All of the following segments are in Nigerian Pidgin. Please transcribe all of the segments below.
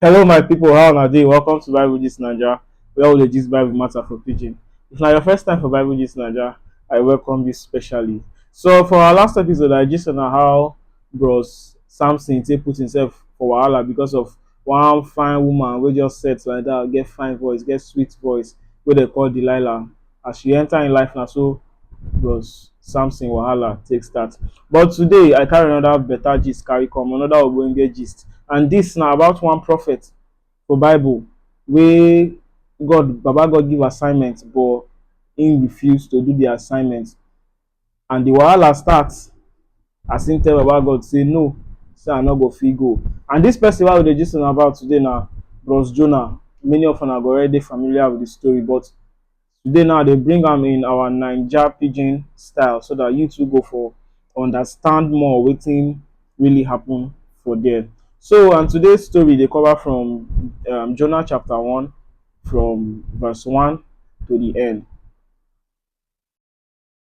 Hello my people, how una dey? Welcome to Bible Gist Naija, where we dey gist Bible matter for pidgin. If na your first time for Bible Gist Naija, I welcome you specially. So for our last episode, I gist una how bros Samson take put himself for wahala because of one fine woman wey just set like that, get fine voice, get sweet voice, wey dem call Delilah. as she enter in life now, so bros Samson wahala take start. But today I carry another better gist carry come, another ogbonge gist. And this now about one prophet for Bible where God Baba God give assignment but he refused to do the assignment. And the wahala start as him tell Baba God say no, say I no go fit go. And this person wey we dey gist una about today na Bros Jonah. Many of una go already dey familiar with the story, but today now they bring am in our Naija pidgin style so that you two go for understand more wetin really happen for there. So and today's story dey cover from um, Jonah chapter one from verse one to the end.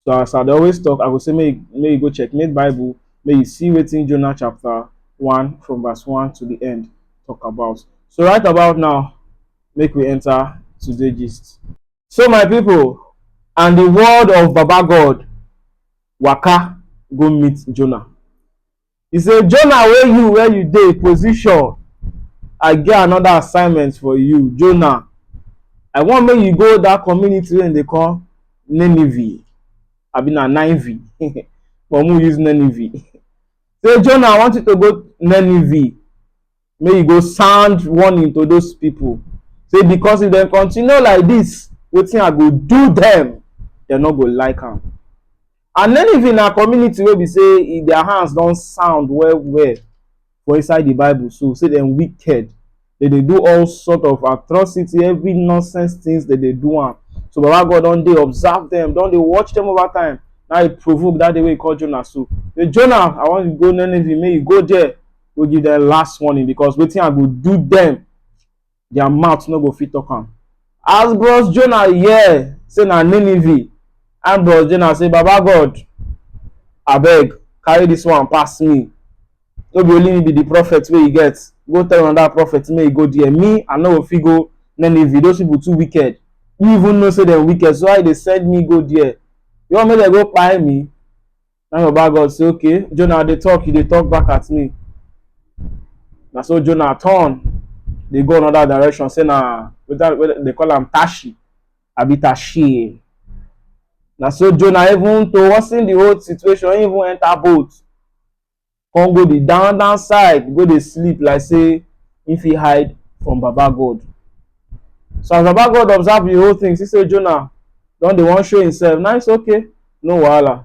So as I dey always talk, I go say make you, make you go check make Bible, make you see wetin Jonah chapter one from verse one to the end talk about. So right about now, make we enter today gist. So my people, and the word of Baba God waka go meet Jonah. E say, Jonah wey you, where you dey? Position, I get another assignment for you. Jonah, I want make you go that community wey they call Nineveh. I mean, na Nineveh. but we use Nineveh. Say, Jonah, I want you to go Nineveh. make you go sound warning to those people say because if dem continue like this wetin i go do dem dem no go like am and then if na community wey be say e, their hands don sound well well for inside the bible so say dem wicked they dey do all sort of atrocity every nonsense things they dey do am so baba god don dey observe them don dey watch them over time na e provoke that day wey he call jonah so say jonah i wan go nineveh make you go there go give them last warning because wetin i go do them their mouth no go fit talk am as bros jonah hear say na nineveh and bros jonah say baba god abeg carry this one pass me no be only me be the prophet wey you get go tell another prophet make e go there me i no go fit go nineveh those people too wicked you even know say dem wicked so why you dey send me go there you wan make dem go kpai me Na im Baba God say, okay, Jonah dey talk, you dey talk back at me. Na so Jonah turn dey go another direction say na whether whether they call am Tashi abi Tashi. Na so Jonah even to worsen the whole situation, he even enter boat. come go the down down side go dey sleep like say he fit hide from baba god so as baba god observe the whole thing see say jonah don dey wan show himself na it's okay no wahala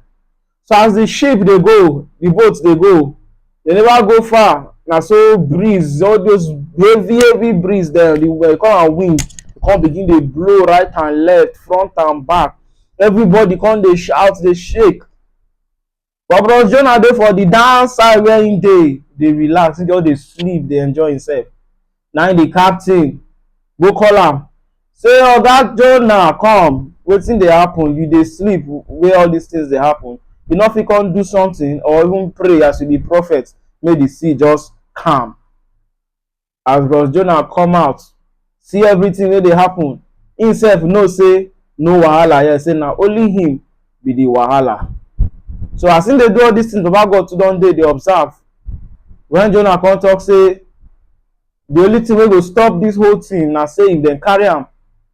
so as the ship dey go the boat dey go they never go far na so breeze all those heavy heavy breeze dem the we call am wind come begin dey blow right and left front and back everybody come dey shout dey shake but bros jonah dey for the down side where him dey dey relax him just dey sleep dey enjoy himself na him the captain go call am say oga jonah come wetin dey happen you dey sleep where all these things dey happen you no fit come do something or even pray as you be prophet make the sea just calm as Bros Jonah come out see everything wey dey happen, him sef know say no wahala here say na only him be the wahala. So as him dey do all these things Baba God too don dey dey observe when Jonah come talk say the only thing wey go stop this whole thing na say if dem carry am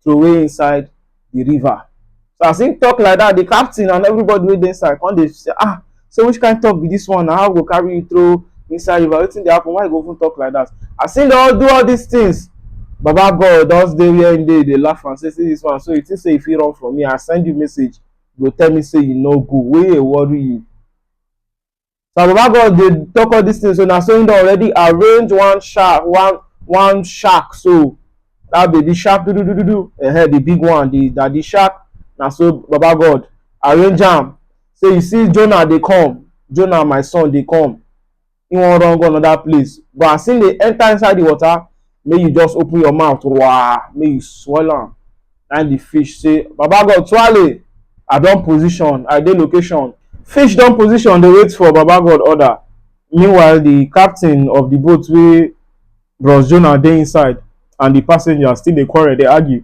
throway inside the river. So as him talk like that, the captain and everybody wey dey inside come dey say, ah, so which kind talk be this one na? How we go carry you throw inside river? Wetin dey happen? Why you go even talk like that? As him don do all these things, Baba God just dey where him dey, dey laugh and say, see this one, so you think say you fit run from me? I send you message, you go tell me say you no go, wey dey worry you? Now, Baba God dey talk all these things, so na so he don already arrange one shark, one one shark. So that baby shark, do do do do do, uh-huh, the big one, the daddy shark. Na so Baba God arrange am. Say you see Jonah dey come, Jonah my son dey come. He wan run go another place, but as he dey enter inside the water, make you just open your mouth wah make you swallow am na the fish say baba god twale i don position i dey location fish don position dey wait for baba god order meanwhile the captain of the boat wey bros jonah dey inside and the passengers still dey quarrel dey argue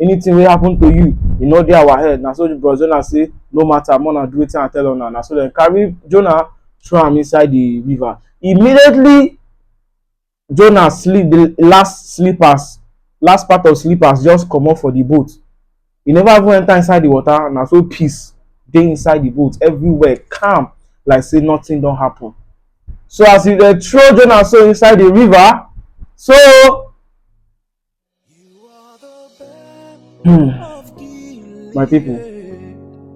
anything wey happen to you e no dey our head na so the bros jonah say no matter more na do wetin i tell una na so dem carry jonah throw am inside the river immediately jonah sleep the last slippers last part of slippers just comot for the boat e never even enter inside the water na so peace dey inside the boat everywhere calm like say nothing don happen so as e dey throw jonah so inside the river so Hmm. My people,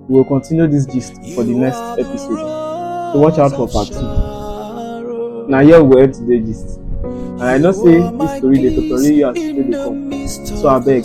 we will continue this gist for the next episode. So watch out for part two. Now here we end today's gist. And I know say this story dey totori you as e dey come. So abeg,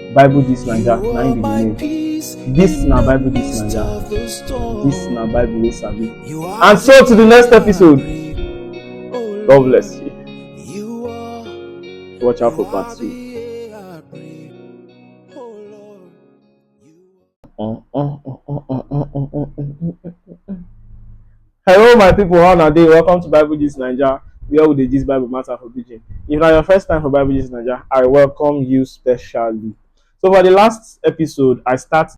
Bible this Naija na im be the name. This na Bible this Naija. This na Bible wey sabi. And so to the next episode. God bless you. Watch out for part two. Hello, my people. How are you? Welcome to Bible Gist Nigeria, where we dey gist Bible matter for pidgin. If na your first time for Bible Gist Nigeria, I welcome you specially. So for the last episode, I start